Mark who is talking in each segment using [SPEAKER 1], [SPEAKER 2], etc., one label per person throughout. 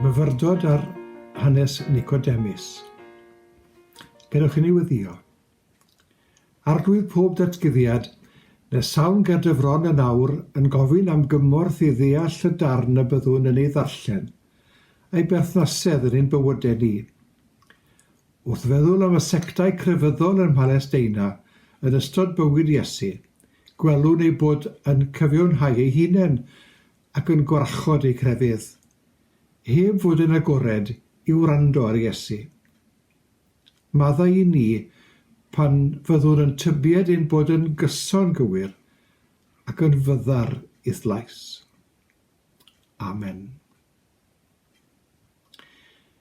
[SPEAKER 1] Myfyrdod ar hanes Nicodemus. Gadewch i ni weddio. Arglwydd pob datguddiad, nes sawn ger dy fron yn awr yn gofyn am gymorth i ddeall y darn y byddwn yn ei ddarllen, a'i berthnasedd yn ein bywydau ni. Wrth feddwl am y sectau crefyddol ym Mhalesteina yn ystod bywyd Iesu, gwelwn eu bod yn cyfiawnhau eu hunain ac yn gwarchod eu crefydd, heb fod yn agored i wrando ar Iesu. Maddau i ni pan fyddwn yn tybied ein bod yn gyson gywir ac yn fyddar i dlais. Amen.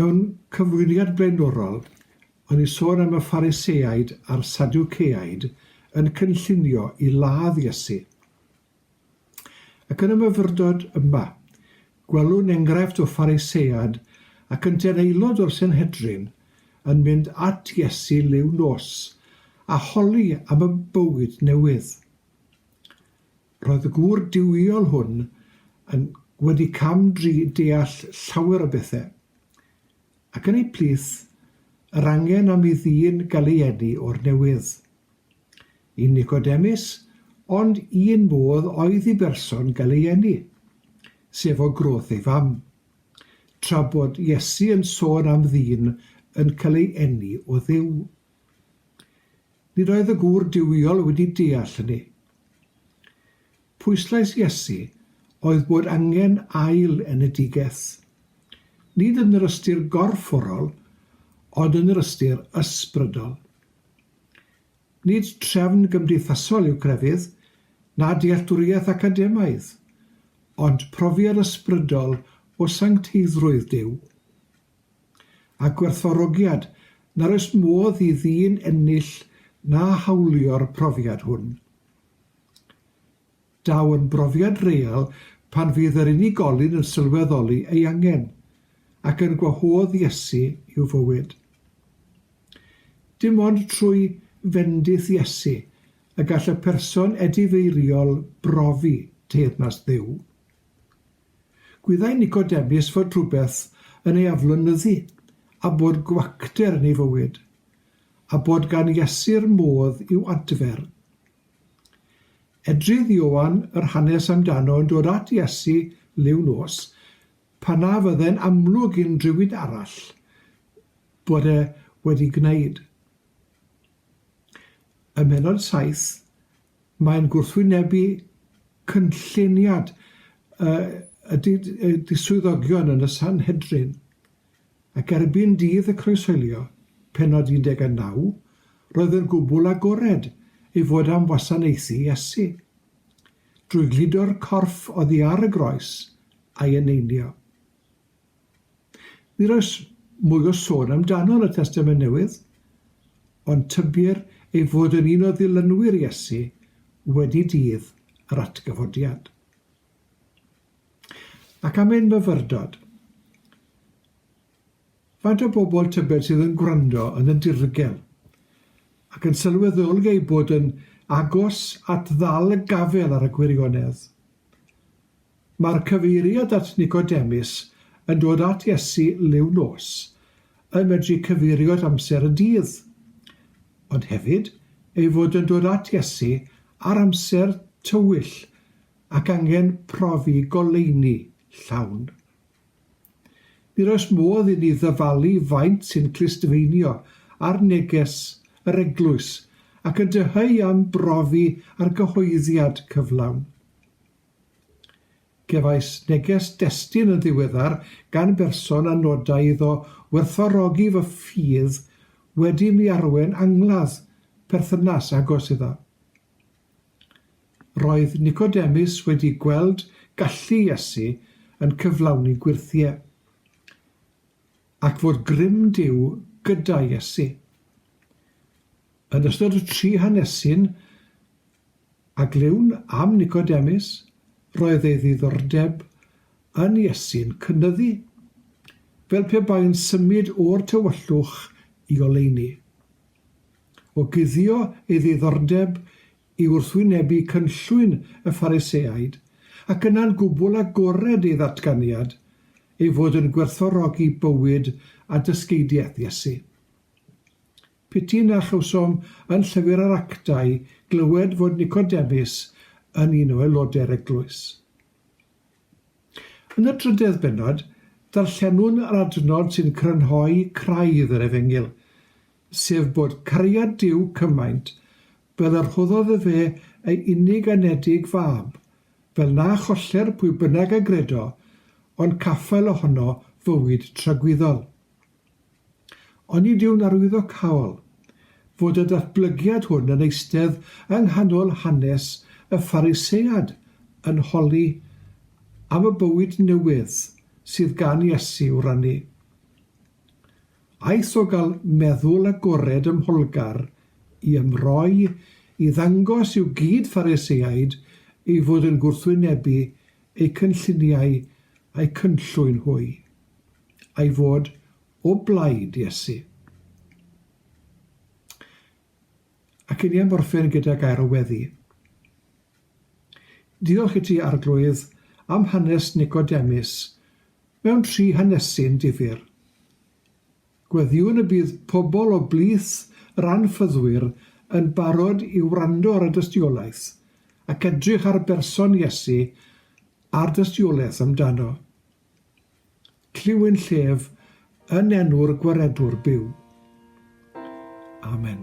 [SPEAKER 1] Mewn cyflwyniad blaenorol, o'n i'n sôn am y Phariseaid a'r Sadwceaid yn cynllunio i ladd Iesu. Ac yn y myfyrdod yma, gwelwn enghraifft o Pharisead ac yntau'n aelod o'r Senhedrin yn mynd at Iesu liw nos a holi am y bywyd newydd. Roedd y gŵr duwiol hwn yn wedi cam dri deall llawer o bethau, ac yn ei plith, yr angen am i ddyn gael ei eni o'r newydd. I Nicodemus, ond un modd oedd i berson gael ei eni, sef o groth ei fam, tra bod Iesu yn sôn am ddyn yn cael ei eni o Dduw. Nid oedd y gŵr duwiol wedi deall hynny. Pwyslais Iesu oedd bod angen ail enedigaeth, nid yn yr ystyr gorfforol, ond yn yr ystyr ysbrydol. Nid trefn gymdeithasol yw crefydd, na dealltwriaeth academaidd, ond profiad ysbrydol o sancteiddrwydd Duw. a gwerthfawrogiad, nad oes modd i ddyn ennill na hawlio'r profiad hwn. Daw yn brofiad real pan fydd yr unigolyn yn sylweddoli ei angen, ac yn gwahodd Iesu i'w fywyd. Dim ond trwy fendith Iesu y gall y person edifeiriol brofi teyrnas Dduw. Gwyddai Nicodemus fod rhywbeth yn ei aflonyddu, a bod gwacter yn ei fywyd, a bod gan Iesu'r modd i'w adfer. Edrydd Ioan yr hanes amdano yn dod at Iesu liw nos, pan na fydde'n amlwg i'n rhywun arall bod e wedi gwneud. Ym mhennod saith, Mae'n gwrthwynebu cynlluniad y diswyddogion yn y Sanhedrin, ac erbyn dydd y croeshoelio, pennod 19, roedd yn gwbl agored ei fod am wasanaethu Iesu. Drwy gludo'r corff oddi ar y groes, a'i eneinio. Nid oes mwy o sôn amdano yn y Testament Newydd, ond tybir ei fod yn un o ddilynwyr Iesu wedi dydd yr atgyfodiad. Ac am ein myfyrdod. Faint o bobl tybed sydd yn gwrando yn y dirgel ac yn sylweddoli eu bod yn agos at ddal y gafel ar y gwirionedd? Mae'r cyfeiriad at Nicodemus yn dod at Iesu liw nos yn medru cyfeirio at amser y dydd, ond hefyd ei fod yn dod at Iesu ar amser tywyll ac angen profi goleuni llawn. Nid oes modd inni ddyfalu faint sy'n clustfeinio ar neges yr eglwys ac yn dyheu am brofi argyhoeddiad cyflawn. Cefais neges destun yn ddiweddar gan berson a nodai iddo werthfawrogi fy ffydd wedi i mi arwain angladd perthynas agos iddo. Roedd Nicodemus wedi gweld gallu Iesu yn cyflawni gwyrthiau, ac fod grym Duw gyda Iesu. Yn ystod y tri hanesyn a glywn am Nicodemus, roedd ei ddiddordeb yn Iesu'n cynyddu, fel pe bai'n symud o'r tywyllwch i oleuni. O guddio ei ddiddordeb i wrthwynebu cynllwyn y Phariseaid, ac yna'n gwbl agored ei ddatganiad ei fod yn gwerthfawrogi bywyd a dysgeidiaeth Iesu. P'tun a chawsom yn Llyfr yr Actau glywed fod Nicodemus yn un o aelodau'r eglwys. Yn y drydedd bennod, darllenwn yr adnod sy'n crynhoi craidd yr Efengyl, sef bod cariad Duw cymaint fel y rhoddodd efe ei unig anedig fab, fel na choller pwy bynnag a gredo, ond caffael ohono fywyd tragwyddol. Onid yw'n arwyddocaol fod y datblygiad hwn yn eistedd yng nghanol hanes y Pharisead yn holi am y bywyd newydd sydd gan Iesu i'w rannu? Aeth o gael meddwl agored ym Mholgar i ymroi i ddangos i'w gyd-Phariseaid ei fod yn gwrthwynebu eu cynlluniau a'u cynllwyn hwy. a'i fod o blaid Iesu. Ac i ni am orffen gyda gair o weddi. Diolch i ti, Arglwydd, am hanes Nicodemus mewn tri hanesyn difyr. Gweddiwn y bydd pobl o blith yr anffyddwyr yn barod i wrando ar y dystiolaeth ac edrych ar berson Iesu a'r dystiolaeth amdano. Clywyn llef yn enw'r Gwaredwr byw. Amen.